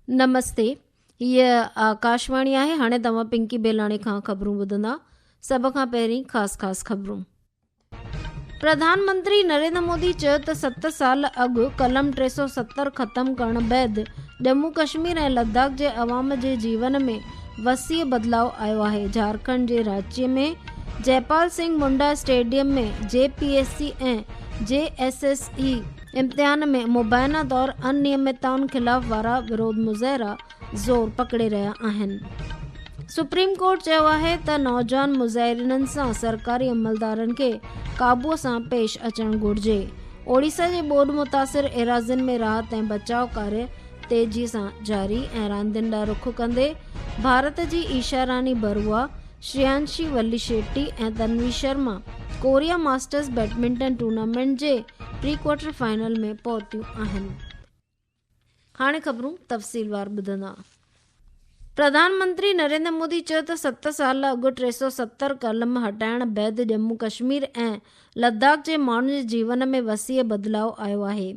نمستي هي آڪاشواڻي آهي هاڻي توهان پنڪي بيلاڻي کان خبرون ٻڌندا سڀ کان پهرين خاص خاص خبرون پرڌان منتري نريندر مودي چيو ته ست سال اڳ قلم ٽي سؤ ستر ختم ڪرڻ بعد ڄمون ڪشمير ۽ لداخ جي عوام جي جيون ۾ وسيع بدلاء آيو آهي جهارکنڊ جي راچي ۾ Jaipal Singh Munda stadium ۾ J P S C ۽ J S S E امتحان ۾ مبينا طور انيمتائن خلاف وارا ورود مظاهرا زور پڪڙي رهيا آهن سپريم ڪورٽ چيو آهي ته نوجوان مظاهرينن سان سرڪاري عملدارن کي قابو سان پيش اچڻ گهرجي اوڙيسا جي ٻوڏ متاثر ايراضين ۾ راحت ۽ بچاء ڪاري تيزي سان جاري ۽ راندين ڏانهن رخ ڪندي ڀارت جي Isha Rani Barua Shriyanshi Valishetty ۽ Tanvi Sharma Korea Masters badminton tournament جي پري ڪوارٽر فائنل ۾ پهتيون آهن هاڻي خبرون تفصيلوار ٻڌندا. پرڌان منتري نريندر مودي چيو ته ست سال اڳ ٽي سؤ ستر قلم هٽائڻ بعد ڄمون ڪشمير ۽ لداخ جي ماڻهن جي جيون ۾ وسيع بدلاء آيو آهي.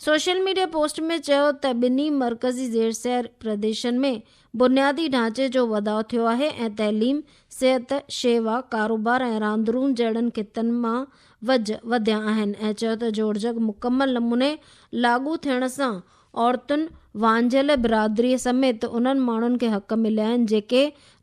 سوشل ميڊيا پوسٽ ۾ چيو ته ٻنهي مرڪزي زير سير پرديشن ۾ بنيادي ڍانچي جو وڌاء ٿيو آهي ۽ تعليم، صحت، شيوا، ڪاروبار ۽ راندرون جهڙن خطن مان ويجهه وڌيا آهن ۽ چيو ته جوڙجڪ مڪمل نموني لاڳو ٿيڻ سان عورتن، وانجهيل برادري سميت انهن ماڻهن کي حق مليا آهن جيڪي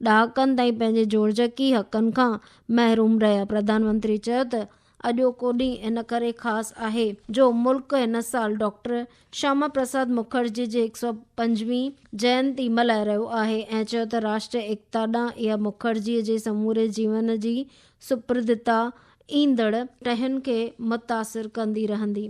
ڏهاڪن تائين پنهنجي جوڙجڪي حقن کان محروم رهيا. پرڌان منتري چيو ته اڄوڪو ڏينهن ان ڪري خاص آهي جو ملڪ هن سال ڊاڪٽر شياما پرساد مکرجي جي هڪ سؤ پنجويهين جينتي ملهائي رهيو آهي ۽ چيو ته راشٽري ايڪتا ڏانهن اها مکرجي جي سموري جيون جي سپردتا ايندڙ ٽهين کي متاثر ڪندي رهندي.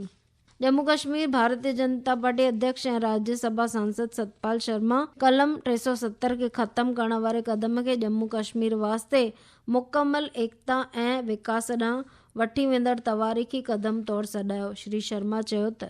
ڄمون ڪشمير، ڀارتي جنتا پارٽي اڌيڪش ۽ راجيا سڀا سانسد ستپال شرما قلم ٽي سؤ ستر کي ختم ڪرڻ واري قدم کي ڄمون ڪشمير واسطي مڪمل ايڪتا ۽ وڪاس ڏانهن وٺي ويندڙ تواريخي قدم طور سڏايو. شري شرما چيو ته.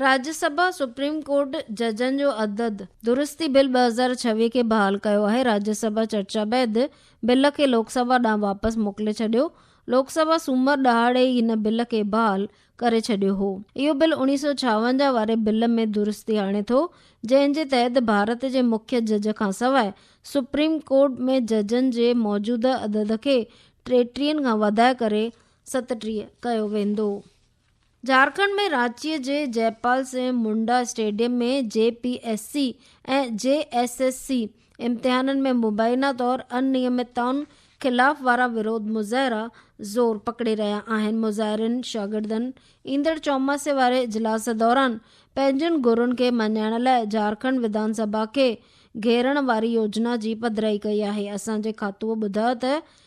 راجيا سڀا سپريم ڪورٽ ججن جو عدد درستي بل ٻه هزار ڇويهه کي بحال ڪيو آهي، راجيا سڀا چرچا بعد بل کي لوڪ سڀا ڏانهن واپس موڪلي ڇڏيو، لوڪ سڀا سومر ڏهاڙي ئي هن بل کي بحال ڪري ڇڏيو هو، اهو بل اڻيهه سؤ ڇاونجاهه واري بل ۾ درستي آڻي ٿو، جنهن جي تحت ڀارت جي مکيه جج کانسواء سپريم ڪورٽ ۾ ججن جي موجوده عدد کي ٽيٽيهن کان وڌائي ڪري ستٽيهه ڪيو ويندو. جھارکنڊ ۾ رانچي جي Jaipal Singh Munda stadium ۾ J P S C ۽ J S S C امتحانن ۾ مبينا طور انيمتائن خلاف وارا ورود مظاهرا زور پڪڙي رهيا آهن مظاهرين شاگردن ايندڙ چوماسي واري اجلاس دوران پنهنجين گهرن کي مڃائڻ لاء جھارکنڊ وڌان سڀا کي گهيرڻ واري يوجنا جي پڌرائي ڪئي آهي اسان جي کاتوء ٻڌايو ته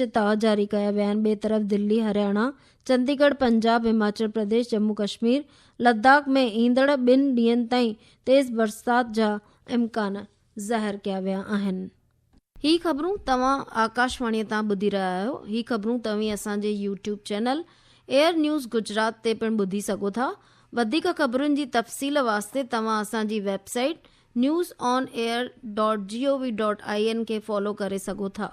چتاء جاري ڪيا ويا آهن ٻئي طرف دلي هرياڻا چندي ڳڙھ پنجاب هماچل پرديش جمو ڪشمير لداخ ۾ ايندڙ ٻن ڏينهن تائين تيز برسات جا امڪان ظاهر ڪيا ويا آهن. هي خبرون توهان آڪاشواڻي تان ٻڌي رهيا آهيو هي خبرون توهين اسان جي YouTube channel Air News Gujarat تي پڻ ٻڌي سگهو ٿا وڌيڪ خبرن جي تفصيل واسطي توهان اسان جي website news on air. gov. in کي فالو ڪري سگهو ٿا.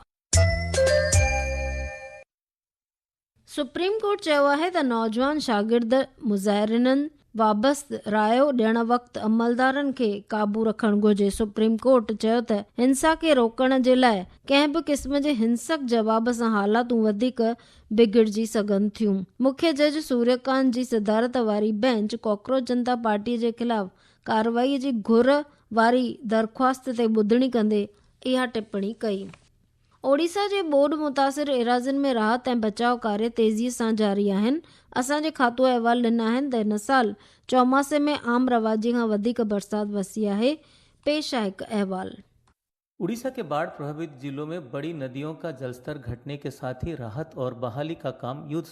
سپريم ڪورٽ چيو آهي ته نوجوان شاگرد مظاهرينن وابست رايو ڏيڻ وقت عملدارن کي قابو رکڻ گهرجي، سپريم ڪورٽ چيو ته هنسا کي روڪڻ جي لاء ڪنهن به قسم جي هنسڪ جواب سان حالاتون وڌيڪ بگڙجي سگهن ٿيون، مکيه جج سوريه ڪانت جي صدارت واري بئنچ ڪاڪروچ جنتا پارٽي جي خلاف ڪارروائي جي گهر واري درخواست تي ٻڌڻي ڪندي اها ٽپڻي ڪئي. اوڙيسا جي ٻوڏ متاثر ايراضين ۾ راحت ۽ بچاء ڪاري تيزي سان جاري آهن، اسان جي کاتو احوال ڏنا آهن ته هن سال چوماسي ۾ عام رواجي کان وڌيڪ برسات وسي آهي، پيش آهي هڪ احوال. اڙيسا ڪي باڙھ پرڀاوت ضلعو مين بڙي نديون ڪا جلستر گھٽني ڪي ساتھ ھي راحت اور بحالي ڪا ڪام يوڌ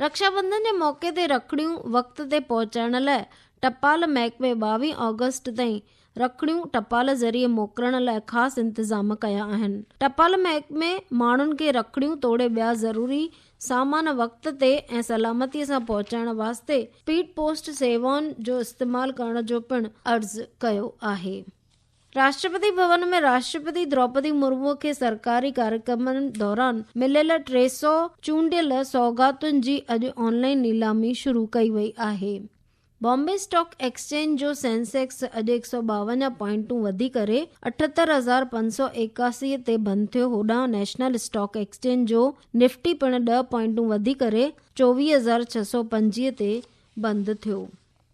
رڪشابنڌن جي موقعي تي رکڙيون وقت تي پهچائڻ لاء ٽپال محڪمي ٻاويهه آگسٽ تائين رکڙيون ٽپال ذريعي موڪلڻ لاء خاص انتظام ڪيا آهن. ٽپال محڪمي ماڻهن کي رکڙيون توڙي ٻيا ضروري سامان وقت تي ۽ سلامتي سان پهچائڻ واسطي اسپيڊ پوسٽ سيوائن جو استعمال ڪرڻ جو پڻ عرض ڪيو آهي. راشٽرپتي ڀون ۾ راشٽرپتي دروپدي مرمو کي سرڪاري ڪاريڪرمن دوران مليل ٽي سؤ چونڊيل سوغاتن جي اڄ آن لائين نيلامي شروع ڪئي وئي آهي. بامبي اسٽاڪ ايڪسچينج جو سينسيڪس اڄ هڪ سؤ ٻاونجاهه پوائنٽون وڌي ڪري اٺهتر هزار پنج سؤ ايڪاسي تي بند ٿيو هوڏانهن نيشنل اسٽاڪ ايڪسچينج جو نفٽي پڻ ڏهه پوائنٽون وڌي ڪري چوويهه هزار ڇهه سؤ پنجويهه تي بند ٿيو.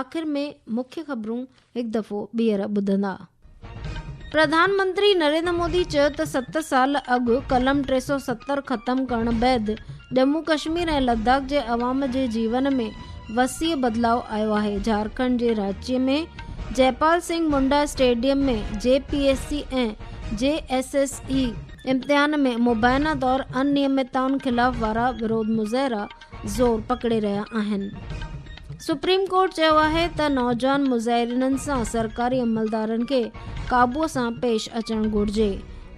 آخر ۾ مکيه خبرون هڪ دفعو ٻيهر ٻڌندا. پرڌان منتري نريندر مودي چيو ته ست سال اڳ قلم ٽي سؤ ستر ختم ڪرڻ بعد ڄمون ڪشمير ۽ لداخ جي عوام جي جيون ۾ وسيع بدلاء آيو آهي، جھارکنڊ جي Ranchi ۾ Jaipal Singh Munda stadium ۾ J P S C ۽ J S S E امتحان ۾ مبينا طور انيمتائن خلاف وارا ورود مظاهرا زور پڪڙي رهيا آهن سپريم ڪورٽ چيو آهي ته نوجوان مظاهرينن سان سرڪاري عملدارن کي قابو سان پيش اچڻ گهرجي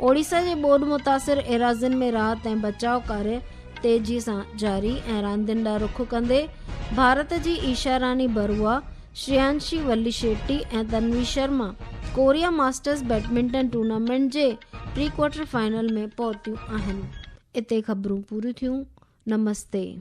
اوڙيسا جي ٻوڏ متاثر ايراضين ۾ راحت ۽ بچاء ڪاري تيزي سان جاري ۽ راندين ڏانهن رخ ڪندي ڀارت جي Isha Rani Barua Shriyanshi Valishetty ۽ Tanvi Sharma Korea Masters badminton tournament جي پري ڪوارٽر فائنل ۾ پهتيون آهن اتي خبرون پوريون ٿيون نمستي.